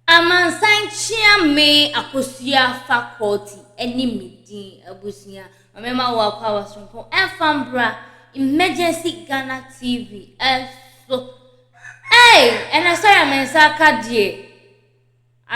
Amansan kyea me akosua faculty ne me din abusua ɔmɛma wo akɔ awa soronko ɛmfa mbra emergency Ghana TV ɛso ei ɛnɛ sɔre a me nsa aka deɛ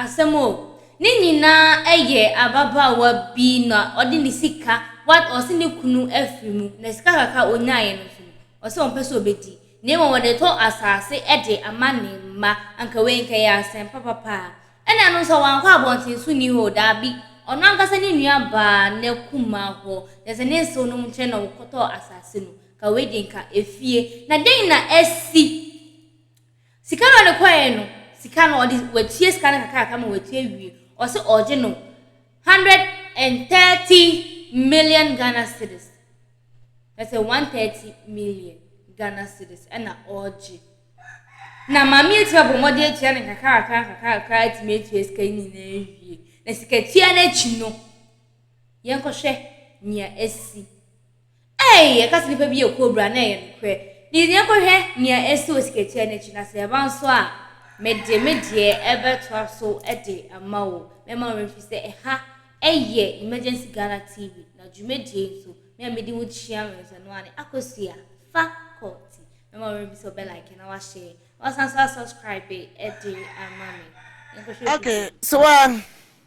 asɛm o ne nyinaa ɛyɛ ababaawa bi na ɔde ne sika wa ɔse ne kunu afiri mu na sika kakra ɔnyaeɛ no nso no ɔse ɔmpɛ sɛ ɔbɛdi na mmom wɔde retɔ asase de ama ne mma. Anka wei anka ɛyɛ asɛm papa paa. Ɛna ɛno nso a, wankɔ abɔnten so nni hɔ o, daabi. Ɔno ankasa ne nua baa n'akuma hɔ, kyerɛ sɛ ne nsew no nkyɛn na wɔkɔtɔɔ asase no. Anka wei deɛ anka efie. Na dɛn na asi? Sika no a ɔde kɔe no, sika no ɔde, watua sika no kakrakakra ma watua awie. Ɔse ɔregye no. Hundred and thirty million Ghana cedis, kyerɛ sɛ one thirty million Ghana cedis ɛna ɔregye. Na maame yi atumi abɔ mmɔden atua no nkakrakra nkakrakra atumi atua sika yi nyinaa awie. Na sikatua no akyi no, yɛnkɔhwɛ nea asi. Ei! Yɛka sɛ nnipa bi yɛ kobra a, na ɛyɛ nokorɛ. Nti deɛ yɛnkɔhwɛ nea ɛsi wɔ sikakyiaa no akyi, na sɛ ɛba nso a, mede me deɛ bɛtoa so de ama wo. Mɛma wo werɛ mfiri sɛ ɛha yɛ Emergency Ghana TV, na dwumadie yi nso, me a medi ho kyia wɛnsa no ara ne Akosua Faculty. Mɛma wo werɛ mfiri sɛ wobɛlike na woashare, na woasan nso asubscribe de ama me. Yɛnkɔhwɛ video no. Okay, so a.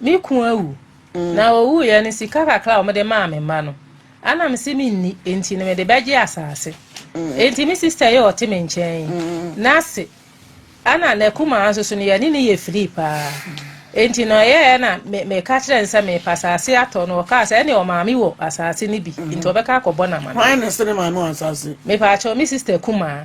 Me kun awu, mm. na owuiɛ no sika kakra a wɔde maa me mma no ana me se menni enti no mede bɛgye asase mm. enti me sista yi ɔte me nkyɛn yi mm. n'ase ana n'akumaa nso so no yɛne ne yɛ firi paa enti no ɛyɛɛ na meka kyerɛ no sɛ mepa asase atɔ no ɔkaa sɛ ɛne ɔmaame wɔ asase no bi nti ɔbɛka akɔbɔ no ama no mepa akyɛw me sista kumaa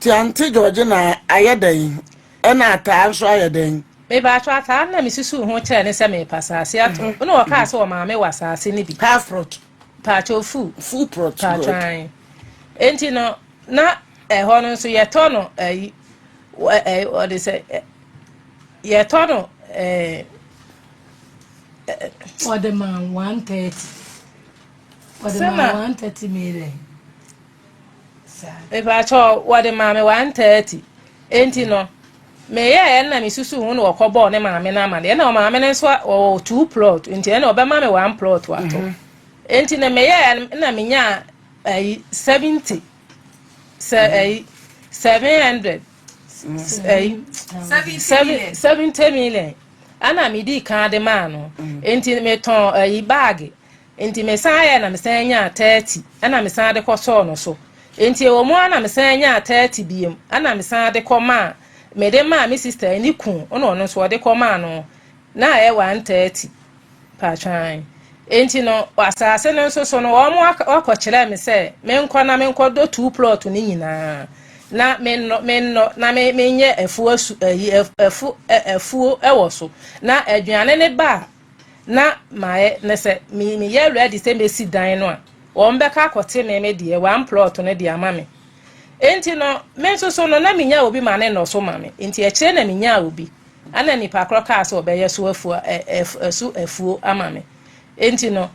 Te Aunty Georgina ayɛ dɛn? Ɛna Ataa nso ayɛ dɛn? Me paatwo Ataa no na me susuu ho kyerɛɛ no sɛ merepa asaase ato no na ɔkaa sɛ ɔmaa me wɔ asaase no bi. Half prot. Paatwo full. Full prot, good. Paatwo ae. Enti no na ɛhɔ no nso yɛtɔ no ayi ɛɛ ɔde sɛ yɛtɔ no ɛɛ. Ɔde ma one thirty. Ɔde ma one thirty million. Mepakyɛw, wɔde maa me one thirty. Enti no, meyɛɛ ɛnna misusuw ho na wɔkɔbɔɔ ne maame no amanneɛ. Ɛnna ɔmaame no nso ɔwɔ two plot, enti ɛnna ɔbɛma me one plot ato. Mhm. Enti no, meyɛɛ na menyaa ayi seventy sɛ mhm. ayi seven hundred ayi seventy million. Ɛnna midi kan de maa no. Mhm. Enti metɔn ayi baage. Enti mesan yɛe na mesan nyaa thirty na mesan de kɔtɔɔ no so. Enti ɛwɔ mu ara na mesan nyaa thirty biom na mesan de kɔ maa, mede maa me sister yi ne kun na ɔno nso ɔde kɔ maa no na ɛyɛ one thirty. Patwaan. Enti no wɔ asase no nso so no wɔn ak akɔkyerɛɛ me sɛ menkɔ na menkɔdɔ two plot no nyinaa na mennɔ mennɔ na me menyɛ afuo asu ayi ɛf ɛfo ɛ afuo ɛwɔ so na aduane ne ba a na mayɛ na sɛ me meyɛ ready sɛ mesi dan no a wɔn bɛka akɔte me me deɛ one plot no de ama me enti no me nso so no na menya obi ma ne nnɔ so ma me enti akyire na menya obi ana nipa korɔ kaa sɛ ɔbɛyɛ so afuo ɛso afuo ama me enti no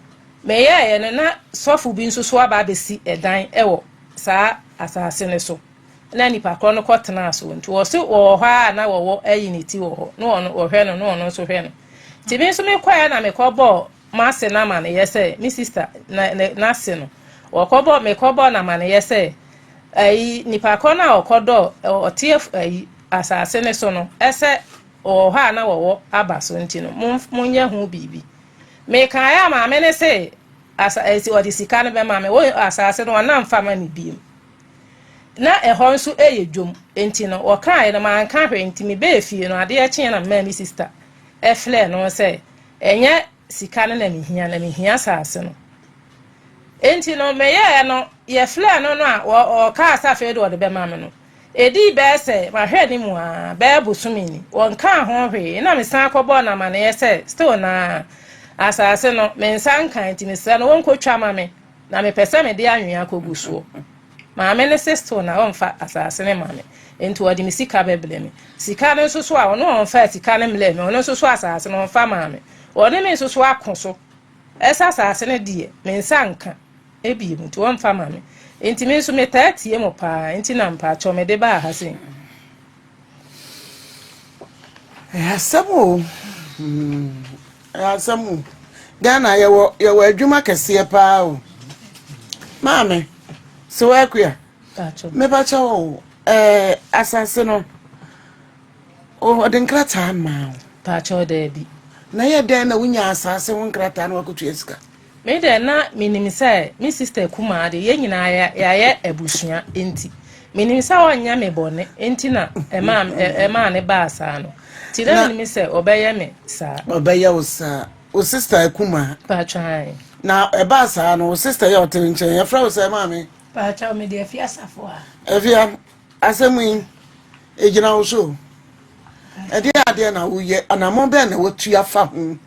meyɛɛ no na sɔfo bi nso so aba abɛsi ɛdan ɛwɔ saa asase no so. na nnipa korɔ no kɔ tenaa so nti wɔ se wɔ wɔ hɔ ara na wɔ wɔ ayi ne ti wɔ hɔ na ɔno wɔ hwɛ no na ɔno nso hwɛ no nti me nso me kɔɛ na me kɔ bɔ mase na ma ne yɛ sɛ me sista na na se no wɔ kɔ bɔ me kɔ bɔ na ma ne yɛ sɛ ayi nnipa korɔ no a ɔkɔ dɔ ɔteɛ ayi asase ne so no ɛsɛ wɔ hɔ a na wɔ wɔ aba so nti no mo mo nyɛ ho biribi me kan ya maame ne se asa esi ɔde sika no bɛ maame wɔ asase no ɔnam fama ne biem. Na ɛhɔ nso yɛ dwom, enti no wɔkaeɛ no manka hwee, enti mebɛɛ fie no adeɛ kyeeɛ na memaa me sista frɛɛ no sɛ ɛnyɛ sika no na mehia, na mehia saase no. Enti no meyɛɛ no, yɛfrɛɛ no no a ɔkaa sɛ afei de ɔde bɛma me no. Ɛdii bɛɛ sɛ mahwɛ ne mu aa bɛɛ bosome ni, wɔnkaa ho hwee, ɛna mesan kɔbɔɔ no amaneɛ sɛ still naa asaase no me nsa nkae nti mesrɛ no wɔnkɔtwa ma me. Na mepɛ sɛ mede anwea kogu soɔ. Maame no se still na ɔmfa asase no ma me, enti ɔde me sika bɛbrɛ me. Sika no nso so a, ɔno ɔmfaa sika no mmerɛɛ me, ɔno nso so asase no ɔmfa maa me. Ɔne me nso so ako so sɛ asase no deɛ, me nsa nka bio, nti ɔmfa ma me. Enti me nso metaa tie mo paa, enti na mpakyɛw mede baa ha sei. Ɛyɛ asɛm o, ɛyɛ asɛm o. Ghana yɛwɔ yɛwɔ adwuma kɛseɛ paa o. Maame, sɛ wɔakuya, mepakyɛ wo ɛɛ asase no, ɔde nkrataa maa wo. Pakyɛ daabi. Na yɛ dɛn na wonya asase ho nkrataa na wakɔtua sika? Me deɛ na menim sɛ me sister kumaa deɛ yɛn nyinaa yɛayɛ abusua nti menim sɛ ɔnyɛ me bɔne nti na ɛmaa ɛmaa ne baa saa no nti na menim sɛ ɔbɛyɛ me saa. Ɔbɛyɛ wo saa wo sister kumaa. Paatwan. Na ɛbaa saa no wo sister yɛ ɔte ne nkyɛn yɛfrɛ wo sɛ maame. Paatwan me deɛ fi asafo a. Ɛfia Asɛm yi, egyina wo so o. Ɛdeɛn adeɛ na woyɛ, anammɔn bɛn na watu afa ho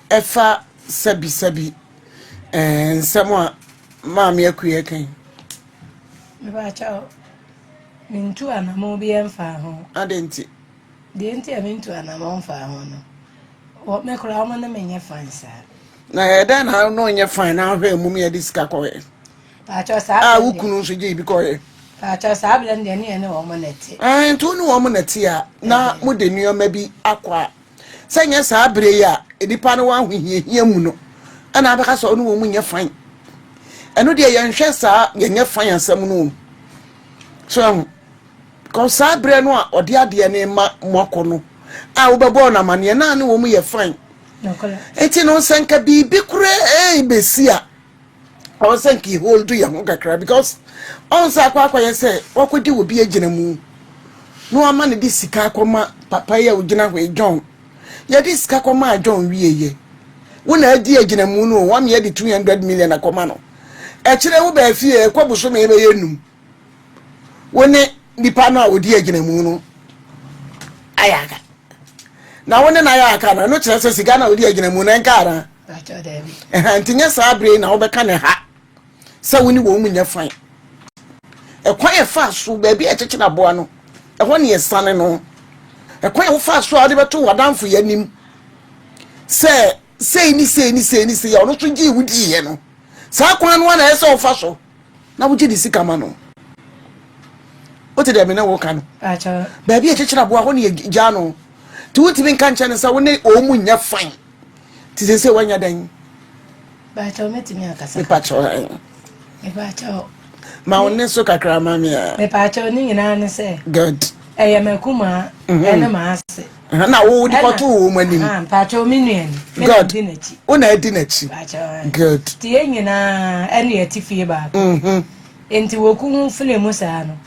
ɛfa sɛbisɛbi eh, nsɛm a maame akuiɛ kan? Mepakyɛw, mentu anammɔn bi mfaa ho. Adɛn nti? Deɛ nti a mentu anammɔn mfaa ho no, wɔ me koraa wɔn ne menyɛ fan saa. Na ɛdɛn na na ɔnyɛ fan na ahwɛ mmom yɛde sika kɔɛ? a wo kunu nso gyee bi kɔeɛ paakyɛw saa berɛ no deɛ ne yɛne wɔn na ɛte ɛn nti wo ne wɔn na ɛte a na mode nneɛma bi akɔ a sɛ nyɛ saa berɛ yi a nnipa no wɔ ahohiahia mu no ɛna abɛka sɛ ɔne wɔn mu nyɛ fan ɛno deɛ yɛnhwɛ saa yɛnyɛ fan asɛm no o so ɛho kɔ saa berɛ no a ɔde adeɛ ne ma mo akɔ no a wobɛbɔɔ no amanneɛ na ne wɔn mu yɛ fan ɛti no sɛ nka biribi koraa ɛbɛsi a ɔwɔ sɛ nka hold yɛn ho kakra because ɔn sɛ akɔ akɔyɛ sɛ wakɔdi wɔ bi agyina mu na wama no de sika akɔma papa yi a ɔgyina hɔ yi john yɛde sika kɔmaa john wieyɛ wo na adi agyina mu no wame yɛde 200 million akɔma no ɛkyerɛ wo baa fie ɛkɔ bosome yɛbɛyɛ num wo ne nipa no a ɔdi agyina mu no ayɛ aka na wo ne no ayɛ aka no ɛno kyerɛ sɛ sika no a ɔdi agyina mu no ɛnka anaa Ɛhã nti nyɛ saa bere yi na wobɛka no ha sɛ wo ne wɔn mu nyɛ fan. Ɛkwan a ɛfaa so baabi a ɛkyekyere aboa no, ɛhɔ ne ɛsane no. Ɛkwan a wofaa so a wode bɛto w'adamfo yɛ anim sɛ sei ne sei ne sei ne sei a ɔno nso gyee wo diiɛ no, saa kwan no a na ɛyɛ sɛ wofa so na wogye ne sika ma no. Wote deɛ me ne wo ka no? Baabi a ɛkyekyere aboa hɔ ne yɛgyaa no. Nti wontumi nka nkyɛn no sɛ wo ne wɔn mu nyɛ fan. Ti sɛ sɛ wanya dɛn? Baakyɛw mɛtumi akasa. Mepakyɛw ɛn. Mepakyɛw. Ma wo ne so kakra ma me a. Mepakyɛw ne nyinaa ne sɛ. Good. Ɛyɛ m'akumaa mhm. ɛne m'ase. Na wo de kɔto wo mu anim. Mpakyɛw me nua ni. Good. Di n'akyi. Wo na adi n'akyi. Mpakyɛw. Good. Ti yɛ nyinaa ɛne ɛti fie baako. Mhm. Nti woku ho fili mu saa no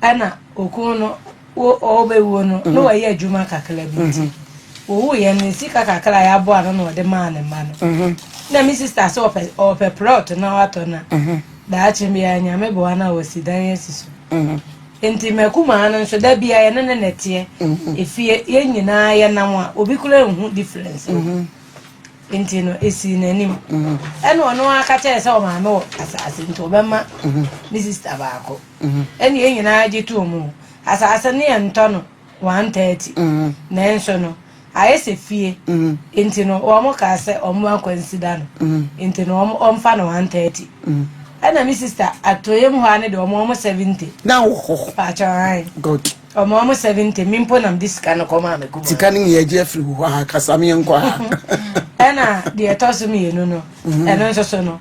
ɛna okun no. Wɔbɛwuo no, na wayɛ adwuma kakra bi nti, wɔwuiɛ no, ne sika kakra a yɛaboa ano na ɔde maa ne mma no. Na me sista sɛ ɔpɛ ɔpɛ plot na watɔ na daakye biara Nyame boa na wasi dan asi so. Nti m'akumaa no nso da biara yɛne ne na ɛteɛ. Efie yɛn nyinaa yɛnam a obi kura nhu difference. Nti no esii n'anim. Ɛna ɔno ara ka kyerɛ sɛ ɔmaame wɔ asase nti ɔbɛma me sista baako. Ɛnna yɛn nyinaa gye too mu. Asase no yɛ ntɔ no one thirty, nanso no ayɛ sɛ fie, enti no wɔkaa sɛ wɔmmoa Kwansida no, enti no wɔmfa no one thirty. Ɛnna me sista atɔeɛ mu hɔ ara no deɛ wɔma wɔn seventy. Na wɔ hɔ. Paatwa ae. Good. Wɔma wɔn seventy, me mpo na mede sika no kɔmaa me kumaa. Sika no yɛgye afiri wo hɔ a, kasa me yɛnkɔ a. Ɛnna deɛ ɛtɔ so mmienu no, ɛno nso so no.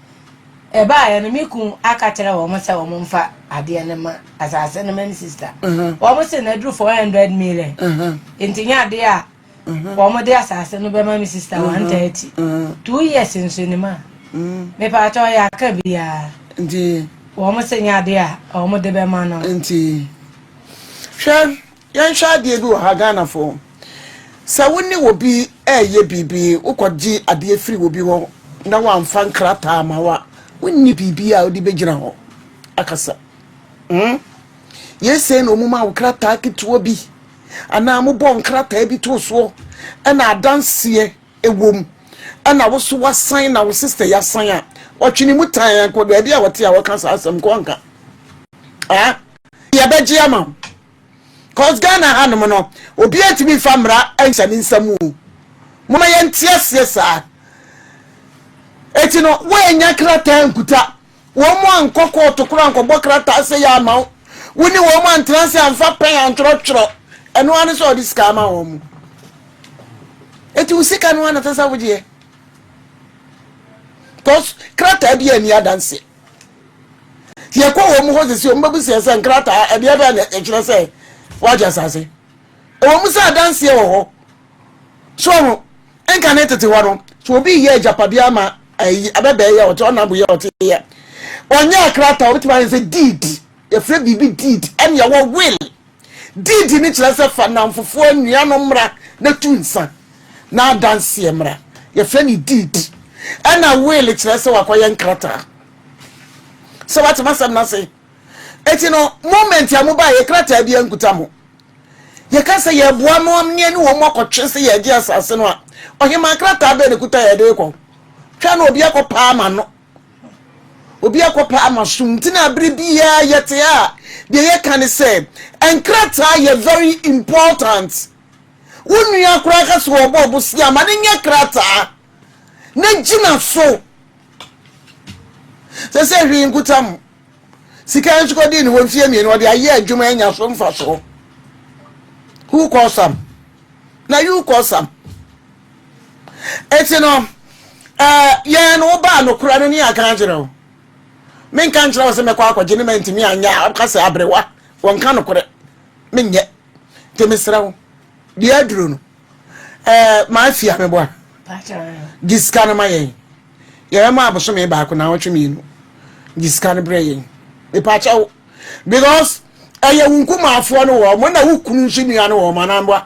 Ɛbaeɛ no, me kun aka kyerɛ wɔn sɛ wɔn mfa adeɛ no ma asase no ma me sista. Wɔn se na aduru four hundred million. Nti nyɛ adeɛ a wɔn de asase no bɛma me sista one thirty. Two years nso nim a. Mepa akyɛ ɔyɛ aka biara. Nti wɔn se nyɛ adeɛ a wɔn de bɛma no. Nti hwɛ Yɛnhwɛ adeɛ bi wɔ ha Ghanafoɔ, sɛ wo ne obi reyɛ biribi, wokɔgye adeɛ firi obi hɔ na wamfa nkrataa ama wo a, wonni biribi a wode bɛgyina hɔ akasa. Mm? Yei sei na ɔmu ma wo krataa ketewa bi anaa mobɔ nkrataa bi too soɔ ɛna adanseɛ ɛwom ɛna wo so wasan na wo sister yasan a ɔtwene mu tan a kɔ baabi a wɔte a wɔka saa asɛm kɔ nka. Ah? Yɛbɛgye ama wo. cos Ghana ha nom no obiaa ntumi nfa mmara nhyɛ ne nsa mu o moma yɛnte aseɛ saa eti no woanya krataa nkuta wɔn mu ankɔ kɔɔto koro ankɔbɔ krataa sɛ yɛ ama wo wo ne wɔn mu antena ase amfa pɛn antwerɛtwerɛ ɛno ano sɛ ɔde sika ama wɔn mu eti wo sika no anatɛ sɛ wogyeɛ cos krataa bi ani adanseɛ yɛkɔ wɔn mu hɔ sisi wɔn bɛbisa yɛ sɛ nkrataa ɛdeɛ bɛn na ɛkyerɛ sɛ wagye asase ɛwɔ mu sɛ adanseɛ wɔ hɔ so ɔho nka ne tete hɔ no so obi yɛ agyapadeɛ ama ayi abɛbɛɛ yɛ ɔte ɔnabo yɛ ɔte yɛ ɔnyɛ akrataa ɔbɛtumi ayɛ sɛ deed yɛfrɛ biribi deed ɛne ɛwɔ will Deedi no kyerɛ sɛ fa nnamfofoɔ anuanom mmra na tu nsa na adanseɛ mmra. Yɛfrɛ no deed. Ɛna will kyerɛ sɛ wakɔyɛ nkrataa. Sɛ watema asɛm no ase. Eti no, moment a mobaa yɛ krataa bi ankuta mo. Yɛka sɛ yɛboa mo am ne ɛne wɔn akɔtwe sɛ yɛgye asase no a, ɔhemaa krataa bɛn na ɛkuta yɛde rekɔ? Twɛn na obi akɔpaa ma no. Obi akɔpɛ ama som nti na bere biara yɛte a deɛ yɛka ne sɛ nkrataa yɛ very important. Wo nua koraa ka sɛ ɔbɔ ɔbosea ma no nyɛ krataa na gyina so. Sɛ sɛ hwee nkutam sika nso kɔdii ne hɔ mfeɛ mmienu ɔde ayɛ adwuma anya so mfasoɔ. Who cause am? Na you cause am. Enti no, eh, yɛn no wobaa nokorɛ no ne aka akyerɛ wo. Menka nkyerɛ wo sɛ mɛkɔ akɔgye ne mantumi anyɛ a woka sɛ aberewa wɔnka nokorɛ. Menyɛ. Nti mesrɛ wo, deɛ aduro no, eh, mafi a meboa. Gye sika no ma yɛn. Yɛbɛma abosome baako na awɔtwe mmienu. Gye sika no berɛ yɛn. Mepakyɛ wo. Because ɛyɛ wo nkumaafoɔ no wɔn na wo kunu nso nua no wɔn anamboa.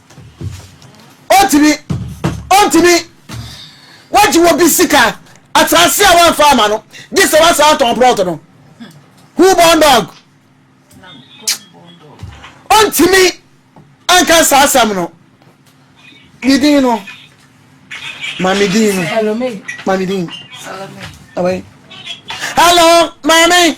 Ontumi, ontumi. Wagye obi sika, asase a wamfa ama no, gye sɛ wasan atɔn plot no. Who born dog? Ontumi anka saa asɛm no. Ne din no, ma me din no, ma me din. Hello, maame.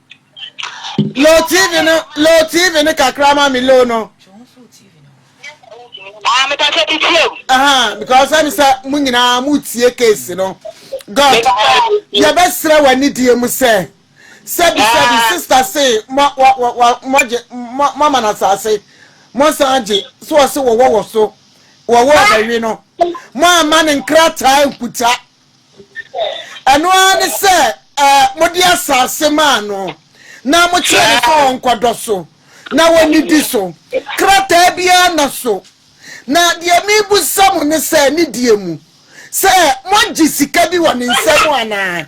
Low TV no, low TV no kakra ma me low no. Ah, me pasa ti tie. Aha, because I'm say mo nyinaa mo tie case no. God, ye be sra wani die mu sɛ. Sɛ bi sɛ bi ah. sister say mo mo mo mo je mo mo mana sase. Mo san je so ɔse wo wo so. Wo wo ba wi no. Mo amane nkrataa nkuta. Ɛno ara ne sɛ, mode asase maa no, na mokyerɛɛ no sɛ ɔnkɔdɔ so na onnidi so, krataa biara nna so. Na deɛ merebisa mo ne sɛ, ne deɛ mu, sɛ moagye sika bi wɔ ne nsam anaa?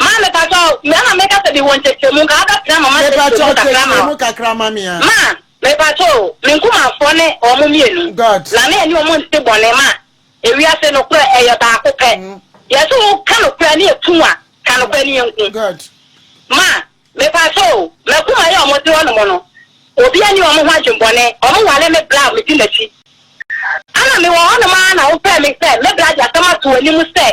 Ma me pakyɛ o, me ama me kasa bi wɔ nkyɛkyerɛmu nka abɛ pena ma ma nkyɛkyerɛmu kakra ma o. Ma me pakyɛ o, me nkumafoɔ ne wɔn mmienu, na me ne wɔn nte bɔne ma ewiase nokorɛ ɛyɛ baako pɛ, yɛ se wo ka nokorɛ ne yɛ pu a, ka nokorɛ ne yɛ nku. Ma me pakyɛ o, ma kuma yɛ wɔn de wɔn mo no, obi a ni wɔn ho adwen bɔne, wɔn wale me bra a me di nakyi, ana me wɔ hɔ nom aa na wo pɛ me sɛ me bra de asɛm ato wɔn anim sɛ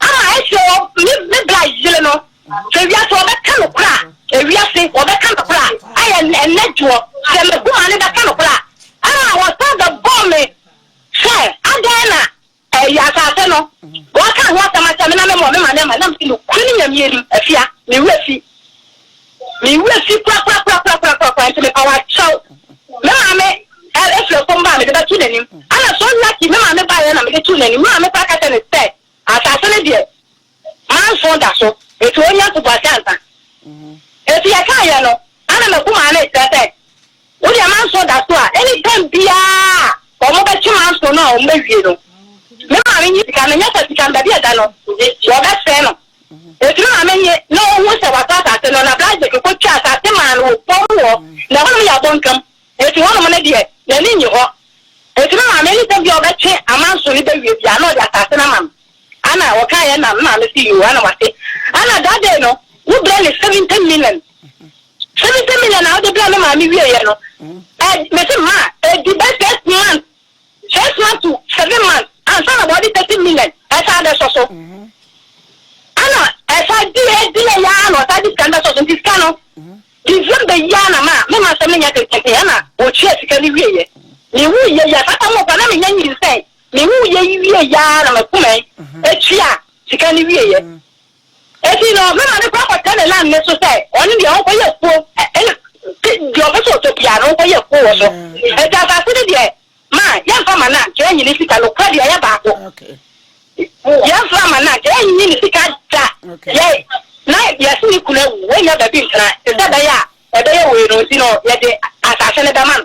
Ama ɛhyɛ wɔ me me bra yere no sɛ wiase wɔbɛka nokorɛ a ewiase wɔbɛka nokorɛ a ayɛ ɛnɛ dwoɔ sɛ m'akuma no bɛka nokorɛ a ɛna wɔsan bɛbɔɔ me sɛ adɛn na ɛyɛ asase no wɔaka ho asɛm akyɛ me na me mmɔ me ma ne ma na me nokorɛ no nyamie nim afia me werɛ fi Me werɛ fi korakorakorakorakorakoraa nti me paw akyɛw. Me maame ɛ, firi fam baa mede bɛto n'anim. Ana so lucky me maame baeɛ na mede too n'anim. Me maame koraa ka kyerɛɛ no sɛ, Asase no deɛ, manso da so, enti ɔnnya ntoboase ansa. Enti yɛkaeɛ no, ana m'abu maa no rekyerɛ sɛ, Wo deɛ manso da so a, anytime biara a wɔbɛkye manso no a wɔawie no, me maame nyi sika no nyɛ sɛ sika no baabi a ɛda no, wɔbɛsɛe no. Ɔtumi ma me nye na ɔhu sɛ wɔatɔ asase no, na Blahzek kɔtwaa asase maa no wɔ pɔw mu hɔ, na ɛhɔnom yɛ abontwam, enti hɔnom no deɛ, n'ani nnye hɔ. Ɔtumi maa me nsɛm bi a ɔbɛtwe amanso no bɛwie biara na ɔde asase no ama me. Ana ɔkaeɛ na me maame se, Yoo, ana wate. Ana that day no, wobrɛ ne seventy million. Seventy million a wode brɛ me maame wieeɛ no, ɛ, mese, Ma, ɛdi bɛ six months First month to seven months ansa na wɔde thirty million ɛsan abɛsɔ so. Ɛna ɛsa di edi yɛ yaa na ɔsa di sika no bɛsɔ so nti sika no December yi ara na ma me ma asɛm no nya tententen ɛna wɔtua sika no wie yɛ. Me wu yɛ yi a saa tam no kora na me nya nyinsɛn me wu yɛ yi wie yɛ ara na ma kumɛn ɛtua sika no wie yɛ. Enti no, me maame kɔ akɔtɛ ne land no so sɛ ɔno deɛ ɔnkɔyɛ afuo, ɛna deɛ ɔpɛ sɛ ɔtɔ biara no ɔnkɔyɛ afuo wɔ so. Enti asase no deɛ, ma yɛmfa mma no ankyɛ yɛnyi ne sika no kura deɛ ɛyɛ baako. Yɛmfa mma no ankyɛ yɛnyi ne sika da. Yɛ, na yɛse ne kunu awu, wanya baabi ntena, te sɛ ɛbɛyɛ a ɛbɛyɛ wei no nti no yɛde asase no bɛma no.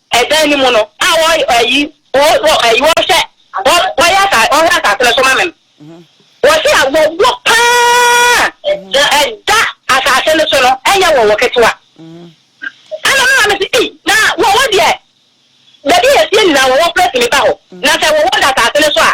Ɛdan no mu no, a wɔ ayi, wɔ, wɔ ayi, wɔhwɛ, wɔ, wɔyɛ asa, wɔhwɛ asase no so ma me no. Wɔsi a wɔwɔ paa, na ɛda asase no so no, ɛnyɛ wɔwɔ ketewa. Ɛna me maame si, ei, na wɔwɔ deɛ, baabi a yɛsie nyinaa wɔwɔ prɛsi mi ba hɔ, na sɛ wɔwɔ da asase no so a,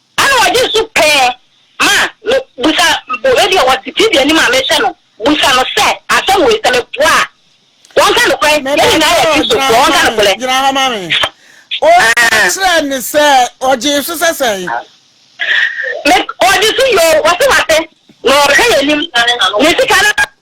Ana ɔgye so pɛɛ ma me busa bo ebi a ɔte TV anim a mehwɛ no busa no sɛ asɛm wei sɛ me boa a wɔnka nokorɛ yɛn nyinaa yɛ Kristofoɔ wɔnka nokorɛ. Gyina hɔ ma me. Ɔka kyerɛɛ ne sɛ ɔgyee so sɛ sɛn? Me ɔgye so yoo ɔse wate na ɔhwɛ yɛn anim ne sika no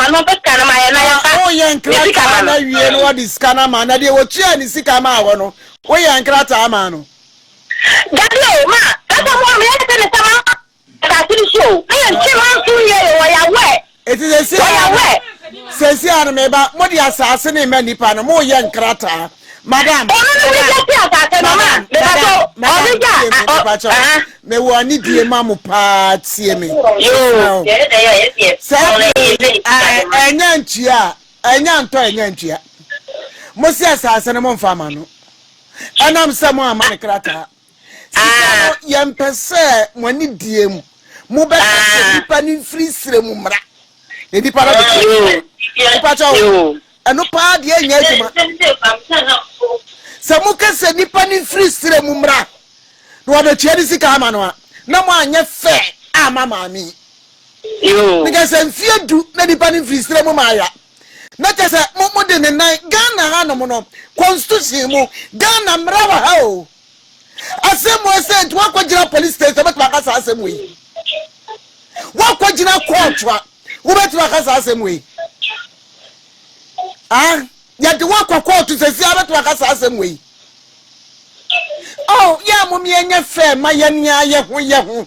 Na woyɛ nkrataa no awie na wɔde sika no ama na deɛ wɔtuaa ne sika maa hɔ no, woyɛ nkrataa maa no? Dabi o, ma, ɛsɛ mo a meyɛ ne sɛ ne sɛma asase no so o, na yɛ nkyɛ ma nso nyɛ yɛ wɔ yawɛ, Eti sɛsi a no, sɛsi a no meba, mo de asase no mma nipa no, mo yɛ nkrataa. Madam, Ono ne wuli jesi asase no ma. Mepacho, ɔde ja. Madam, tie me, mepacho. Me wɔ ani die ma mo paa, tie me. Yoo, yɛde dɛ yɛ yɛ deɛ. Saa bere ɛnya ntua, ɛnya ntɔ ɛnya ntua. Mo si asase no mo nfa ma no. Ɛnam sɛ mo ama ne krataa. Sika no, yɛmpɛ sɛ mo ani die mu. Mobɛka sɛ nnipa no mfiri serɛ mu mmra, na nnipa no bɛka sɛ, Mepa kyɛ wo, ɛno paa deɛ ɛnyɛ adwuma. Sɛ moka sɛ nnipa no mfiri serɛ mu mmra, na wɔde atua ne sika ama no a, na moanyɛ fɛ amma maame yi. Meka sɛ mfeɛ du na nnipa no mfiri serɛ mu mmaeɛ a, Na kyɛ sɛ mo mo de ne nan Ghana ha nom no constitution mu Ghana mmara wɔ ha o asɛm wɔ sɛ nti wakɔ gyina police station wobɛtumi aka saa asɛm wɔ yi wakɔ gyina court a wobɛtumi aka saa asɛm wɔ yi ah yɛde wakɔ court sɛsi a wobɛtumi aka saa asɛm wɔ yi oh yɛ a mo miɛnyɛ fɛ ma yɛn yɛ ho yɛ ho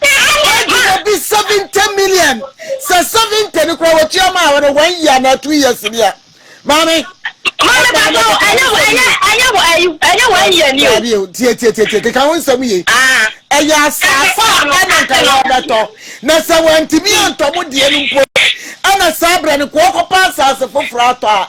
Wagye obi seventy million sɛ seventy no kura wɔtua maa wɔn one year na two years ni a maame. maame bàtà o ɛnyɛ wọ ɛnyɛ ɛnyɛ wọ ɛyi ɛnyɛ wọ ɛyẹ ni o. dàbí o tie tie tie tie keka ho nsɛm yie. ɛyɛ asaase a ɛna nka yɛ ɔbɛtɔ na sɛ wɔntumi antɔ mo deɛ no mpo ɛna saa abirɛ no kɔɔ kɔpa asaase foforɔ atɔ a.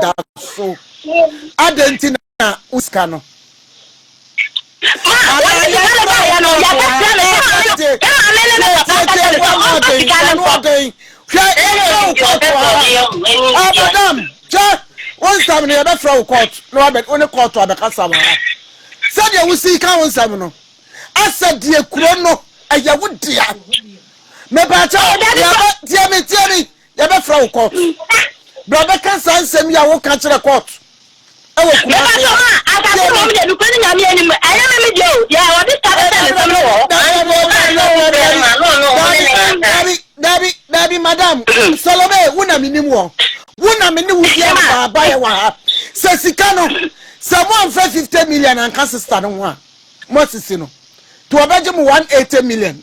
da so adɛn nti na wo sika no madam kyɛ wo nsɛm no yɛbɛfrɛ wo kɔɔto na wabɛ wo ne kɔɔto abɛkasa wɔ ha sɛdeɛ wosi ka wo nsɛm no asɛ deɛ kuro no ɛyɛ wo dea mepaakyɛ yɛbɛ tie me tie me Yɛbɛfrɛ wo kɔɔto. Bra bɛka saa nsɛm yi a woka kyerɛ kɔɔto wɔ Kumasi ha. Tie me. Dabi, dabi, dabi, madam. Salome, wo na menim wɔ. Wo na me ne wo di afa baeɛ wɔ ha. Sɛ sika no, sɛ mo amfa 50 million anka sista no ho a, moasisi no. Nti wɔbɛgye mo 180 million.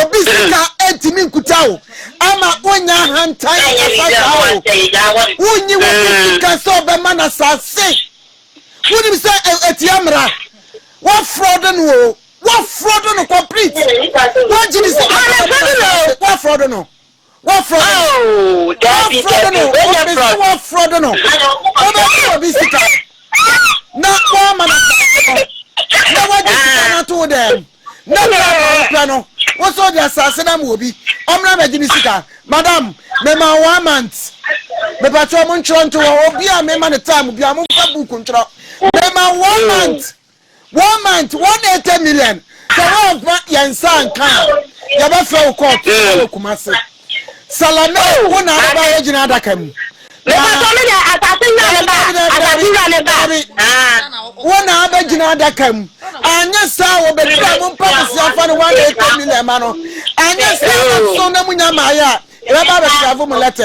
Obi sika ntumi nkuta wo ama wonya ahantan ankasa saa o. Wonyi wo ho sika sɛ ɔbɛma no asase. Wonim sɛ ɛtia mmara. Woafrɔdo no o. Woafrɔdo no complete. Wagye ne sika sɛ ɔbɛma no asase. Woafrɔdo no. Woafrɛ do no. Woafrɛ do no, obi se woafrɛ do no. Wobɛgye obi sika na woama no asase no, na woagye sika no ato wo dɛm, na berɛ a wopɛ no, wo se wode asase no ama obi, ɔmmra mmɛgye me sika. Madam, mema wo one month. Mepatwɔ, montwerɛ nto hɔ. Obi a mema no time biara, momfa book ntwerɛ. Mema wo one month. one month one eighty million sɛ woamfa yɛn nsa anka a yɛbɛfrɛ wo court na wɔ Kumase Salame wo na aba yɛ gyina adaka mu wo na abɛgyina adaka mu anyɛ saa wɔbɛdura mo mpa kɛse afa no one eighty million ma no anyɛ saa na so na munya maayɛ a yɛbɛba abɛtrafo mu lɛtɛ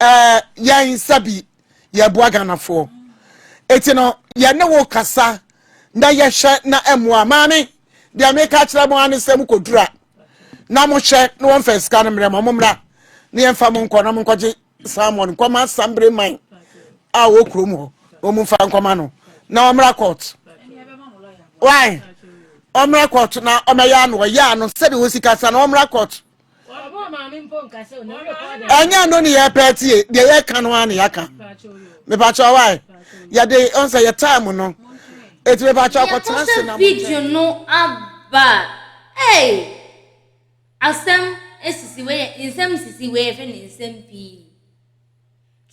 ɛɛ yɛn nsa bi yɛboa ghanafoɔ eti no yɛne wo kasa na yɛhwɛ na ɛmoa maame deɛ meka kyerɛ mo ane sɛ mokɔdura na mohwɛ na wɔmfa sika no mmerɛ ma mommra na yɛmfa mo nkɔ na monkɔgye salmon nkɔma sambere man a wɔ kurom hɔ na ɔmomfa nkɔma no na ɔmmra court why ɔmmra court na ɔmɛyɛ ano ɔyɛ ano sɛdeɛ ɔsi kasa na ɔmmra court ɛnyɛ ɛno ne yɛpɛ tie deɛ yɛka no a ne yɛaka mepakyɛ wae yɛde ɔnsɛ yɛ time no ɛti mepakyɛ akɔtena se na video no aba ei asɛm sisi wei nsɛm sisi wei ɛfɛ ne nsɛm pii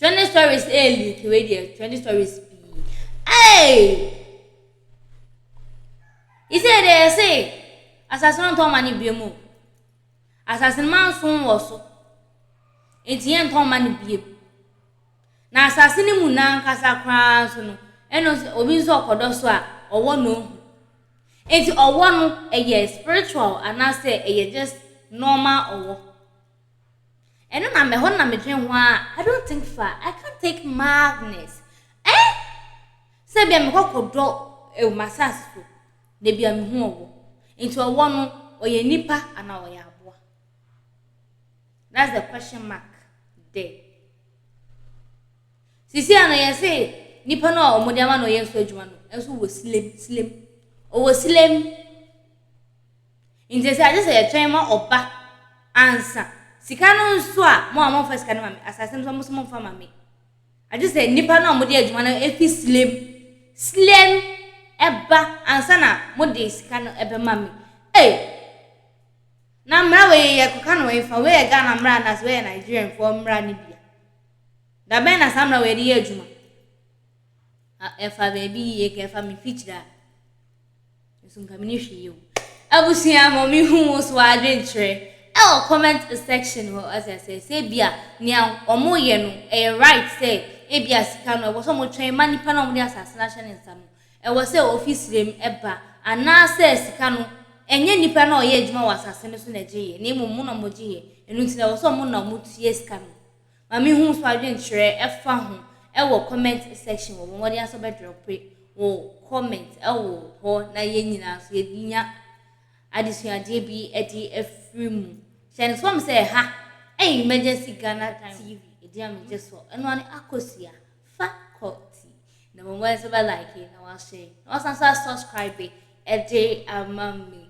Twenty stories ɛyɛ eh, leaky wei deɛ twenty stories pii ɛy isɛ deɛ yɛse asase no ntɔn ma no bie mu asase no ma nso wɔ so nti yɛ ntɔn ma no bie mu na asase no mu nankasa koraa nso no ɛno nso obi nso ɔkɔdɔ so a ɔwɔ na ohu nti ɔwɔ no ɛyɛ spiritual anaasɛ ɛyɛ just normal ɔwɔ. Ɛno na mɛhɔ na medwen ho aa. I don't think fa, I can't take madness eh Sɛ bia mekɔ kɔ dɔ ɛwɔ m'asase so na bia mehu ɔwɔ Nti ɔwɔ no ɔyɛ nipa anaa ɔyɛ aboa That's the question mark there Sisi a no yɛse nipa no a ɔmo de ama no ɔyɛ so adwuma no nso wɔ silem silem Ɔwɔ silem. Nti sɛ ɛsɛ sɛ yɛtwɛn ma ɔba ansa. Sika no nso a, mo a momfa sika no ma me, asase no nso a mo so momfa ma me. Agye sɛ nnipa no a wɔde adwuma no fi slem, slem, ba ansa na mode sika no bɛma me. Ei! Na mmara wei yi yɛkɔka no hefa? Wei yɛ Ghana mmara anaasɛ wei yɛ Nigerianfoɔ mmara no bi a? Da bɛn na saa mmara wei de yɛ adwuma? Ɛfa baabi yie kɛ, ɛfa me mfikyire a. Nso nka mene hwee o. Abusua ma me hu wo so adwenkyerɛ ɛwɔ comment section hɔ wate aseɛ sɛ ebia nea ɔmo yɛ no ɛyɛ right sɛ ebia sika no ɛwɔ sɛ ɔmo twɛn ma nipa no a ɔmo de asaase no ahyɛ ne nsa no ɛwɔ sɛ ofi srɛ mu ɛba anaa sɛ sika no ɛnyɛ nipa no a ɔyɛ adwuma wɔ asaase no so na ɛgye yɛ na mmom ɔmo na ɔmo gye yɛ ɛno nti na ɛwɔ sɛ ɔmo na ɔmo tua sika no. Ma me hu so adwenkyerɛ ɛfa ho ɛwɔ comment section hɔ bɔ mmɔden ara sɛ wobɛdrɔpe wo comment ɛwɔ hɔ na yɛn nyinaa nso yɛnya adesuadeɛ bi ɛde afiri mu hyɛ no sɛ wɔn sɛ ɛha ɛyɛ emergency Ghana TV ɛdin a megye so ɛno ara ne akosua fa kɔ ti na bɔ mmɔden sɛ wobɛ like na wahyɛ na wasan so asubscribe ɛde ama me